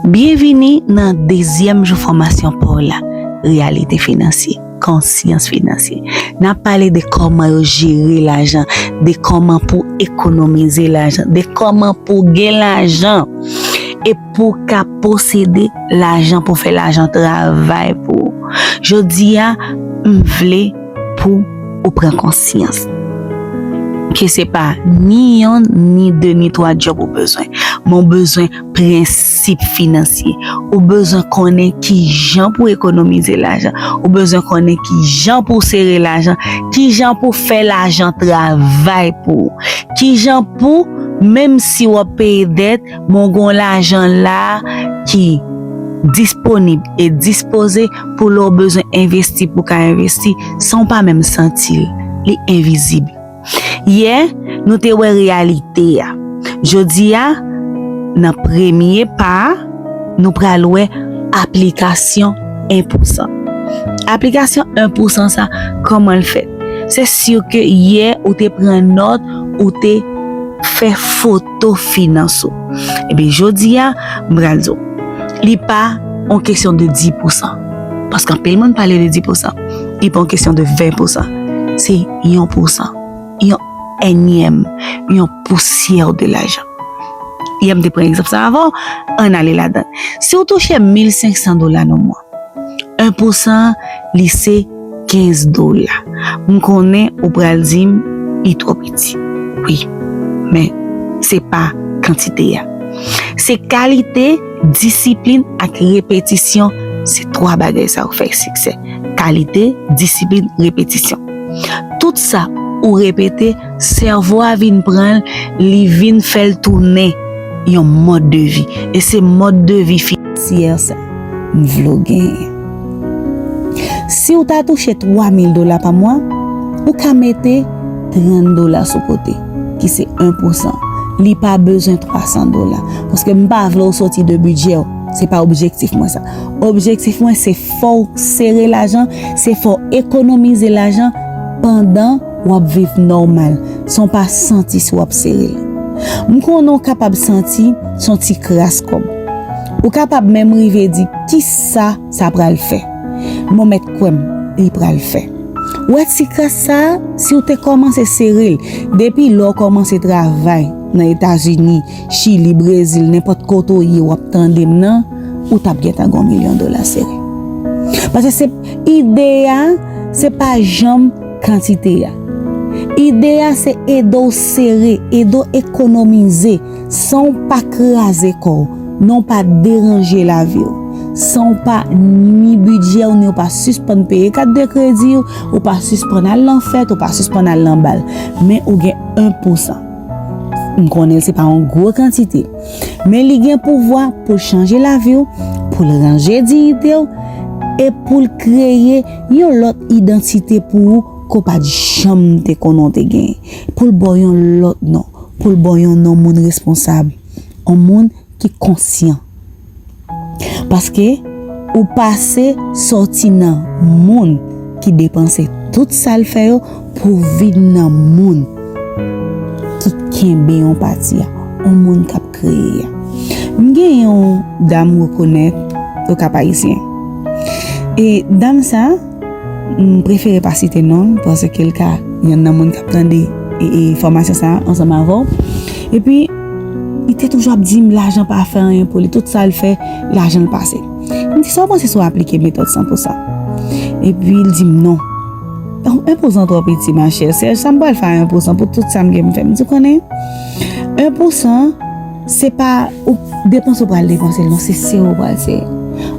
Byenvini nan dezyèm jou fòmasyon pa w la, Reyalite Finansye, Konsyans Finansye. N ap pale de kòman yo jere lajan, de kòman pou ekonomize lajan, de kòman pou w gen lajan e pou w ka posede lajan pou w fè lajan travay pou ou. Jodi a, m vle. Pou ou pran konsyans. Ke se pa ni yon, ni de, ni twa job ou bezwen. Men ou bezwen prensip finansye. Ou bezwen konnen ki jan pou ekonomize lajan. Ou bezwen konnen ki jan pou sere lajan. Ki jan pou fè lajan travay pou ou. Ki jan pou, menm si wap peye dèt. Bon gon lajan la ki disponib e dispoze pou lè w bezwen envesti pou ka envesti san w pa menm santi l. Li envizib. Yè, nou te wè reyalite a. Jodi a, nan premye pa a, nou pral wè aplikasyon 1 pou 100. Aplikasyon 1 pou 100 sa, kòman l fèt? Se si ke yè ou te pran nòt, ou te fè foto. to finans ou. Ebyen jodi a, m pral di w, li pa yon kesyon de 10 pousan, paske anpil moun pale de 10 pousan, li pa yon kesyon de 20 pousan, se yon pousan, yon ènyèm, yon pousyè de lajan. Yè m te pran egzanp sa avan w, an n ale ladan l. Si w touche 1500 dola nan mwa, 1 pou san li se 15 dola. M konnen ou pral di m li twò piti. Wi, men se pa kantite a. Se kalite, disiplin ak repetisyon, se 3 bagay sa yo fè siksè. Kalite, disiplin, repetisyon. Tout sa ou repete, sèvo a vin pran l, li vin fè l tounen yon mòd de vi. E se mòd de vi finansye sa. M vlew genyen. Siw ta touche 3 mil dola pa mwa, ou ka mete 30 dola sou kote, ki se 1 pousan. Li pa bezwen 300 dola. Paske m pa vlew soti de bidjèw. Se pa objektif mwen sa. Objektif mwen se fòw sere lajan, se fòw ekonomize lajan pandan. W ap viv nòmal san w pa santi si w ap sere l. M konnen w kapab santi se yon ti kras kòb. Ou kapab menm rive di ki sa sa pral fè. Men w mèt kwè m, li pral fè. Ou wè ti kras sa a, si w te kòmanse sere l depi lè w kòmanse travay nan Etazini, Chili, Brezil, nenpòt kote w ye w ap tande m nan, ou t ap gentan gen yon milyon dola sere. Paske se ide a se pa janm. kantite a. Ide a se ede w sere, ede w ekonomize san w pa kraze kò w, nan w pa deranje lavi w, san w pa nwi bidjè w ni w pa sispann peye kat de kredi w, ou pa sispann al nan fèt, ou pa sispann al nan bal. Men ou gen 1 pou 100. M konnen se pa yon gwo kantite, men li gen pouvwa pou l chanje lavi w, pou l ranje diyite w e pou l kreye. Yon lòt idantite pou ou ke w pa t janm te konnen w te genyen. Pou l ba w yon lòt non. Pou l ba w yon non moun responsab. Yon moun ki konsyan. Paske, ou pase sòti nan moun ki depanse tout sa l fè yo pou w vin nan moun ki kenbe yon pati a. Yon moun k ap. kreye a. M gen yon dam m rekonèt o Kap Ayisyen. E dam sa, m prefere pa site non l paske l ka yon nan moun kap tande e fòmasyon sa ansanm avè w. E pi, li te toujou ap di m lajan pa fè anyen pou li, tout sa l fè, lajan l pase. M di sa w panse sou aplike metòd san pou san? E pi l di m non. Enpousan twò piti machè, Serge sa m pral fè a enpousan pou tout sa m gen m fè. M di w konnen? 1 pou 100 se pa depanse ou pral depanse l non se se ou pral se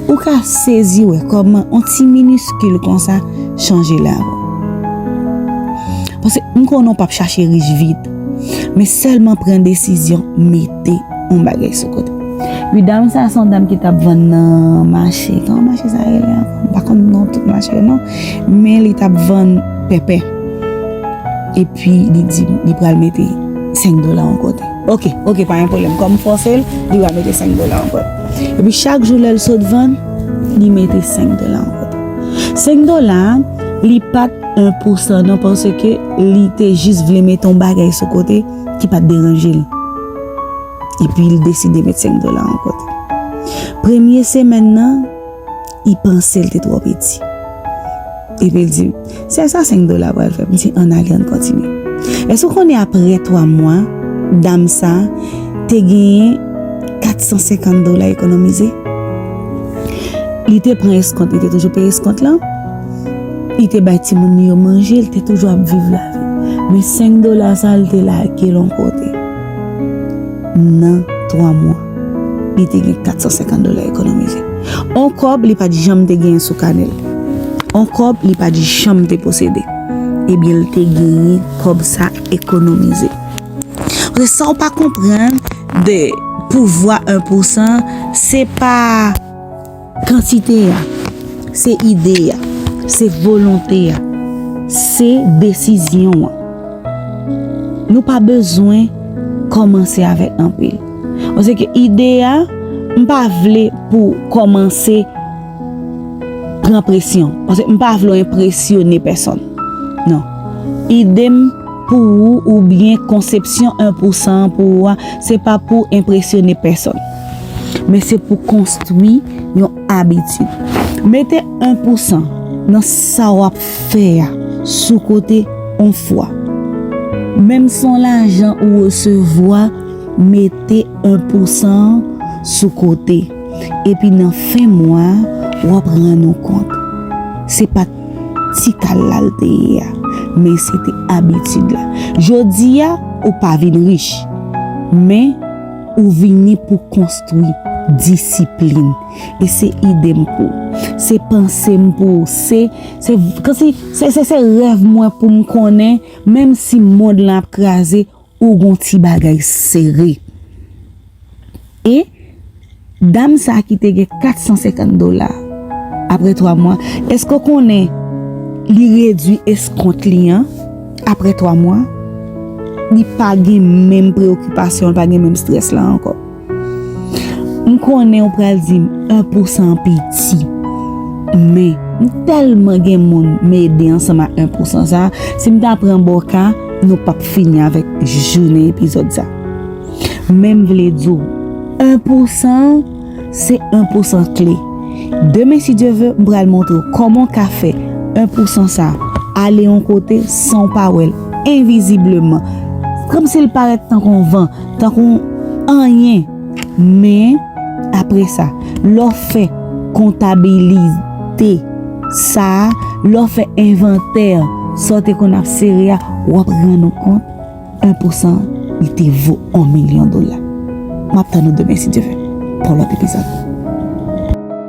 ou ka sezi wè kòman on ti miniskil konsa chanje la ou pase m konnen ou pap chache rich vit men sèlman pran desizyon mete on bagay sou kote wi dam sa son dam ki tap vann nan mache kòman mache sa rele ankò m pa konn non tout mache yo non men li tap vann pèpè. Pi li di m li pral mete 5 dola yon kote. Ok, ok pa gen pwoblèm. Kòm m fòse l, li va mete 5 dola yon kote. Epi chak jou lè l sot vann, li mete 5 dola yon kote. 5 dola a, li pa t en pou sa non paske li te jis vle mete yon bagay sou kote ki pa t deranje l. Epi l deside mete 5 dola yon kote. Premye semèn nan. I panse l te twò piti. Epi l di m, Sèl sa senk dola pral fè. M di, Ann ale, ann kontinye. Èske ou konnen apre twa mwa, dam sa a te genyen kat san senkant dola ekonomize? Li te pran eskont, li te toujou peye eskont lan. Li te bay timoun li yo manje, li te toujou ap viv lavi. Men senk dola sa a, li te lage l yon kote nan twa mwa. Li te gen 450 dola ekonomize. On kòb li pa t janm te genyen sou kanè l. On kòb li pa t janm te posede. Ebyen li te genyen kòb sa ekonomize. Paske sa w pa konprann de pouvwa 1 pousan, se pa. Kantite a, se ide a, se volonte a, se desizyon an. Nou pa bezwen kòmanse avèk anpil. Mwen se ke ide a, m pa vle pou kòmanse pran presyon. Mwen se, m pa vle enpresyone pèsonn. Non. Ide m. pou ou oubyen konsepsyon 1 pou 100 an pou ou a se pa pou enpresyone pèsonn men se pou konstwi yon abitid. Mete 1 pou 100 nan sa w ap fè a sou kote yon fwa. Menm si yon lajan ou resevwa, mete 1 pou 100 an sou kote epi nan fen mwa a w ap rann ou kont se pa Ti kal la l te ye a. Men se te abitid la. Jodi a, ou pa vin rich. Men, ou vini pou konstwi disiplin. E se ide m pou ou. Se panse m pou ou. Se, se, se, se rèv mwen pou m konnen, menm si mond lan ap kraze, Ou gon ti bagay sere. E Dam sa ki te gen 450 dola apre 3 mwa eske ou konnen li redwi eskont li an apre 3 mwa li pa gen menm preokipasyon li pa gen menm strès la ankò. M konnen ou pral di m 1 pou 100 an piti, men m tèlman gen moun m ede ansanm ak 1 pou 100 sa, si m ta pran bò ka, nou p ap fini avèk jounen epizòd sa. Men m vle di w, 1 pou 100 an, se 1 pou 100 kle. Demen si Dye ve, m pral montre w kòman w ka fè 1 pou 100 sa ale yon kote san w pa wè l, envizibleman, kòmsi l parèt tankou yon van. Tankou anyen. Men, apre sa, lè w fè kontabilite sa a, lè w fè envantè sa w te konn ap sere a, w ap rann ou kont 1 pousan li te vo 1 milyon dola. M ap tann ou demen si Dye vle pou yon lòt epizòd.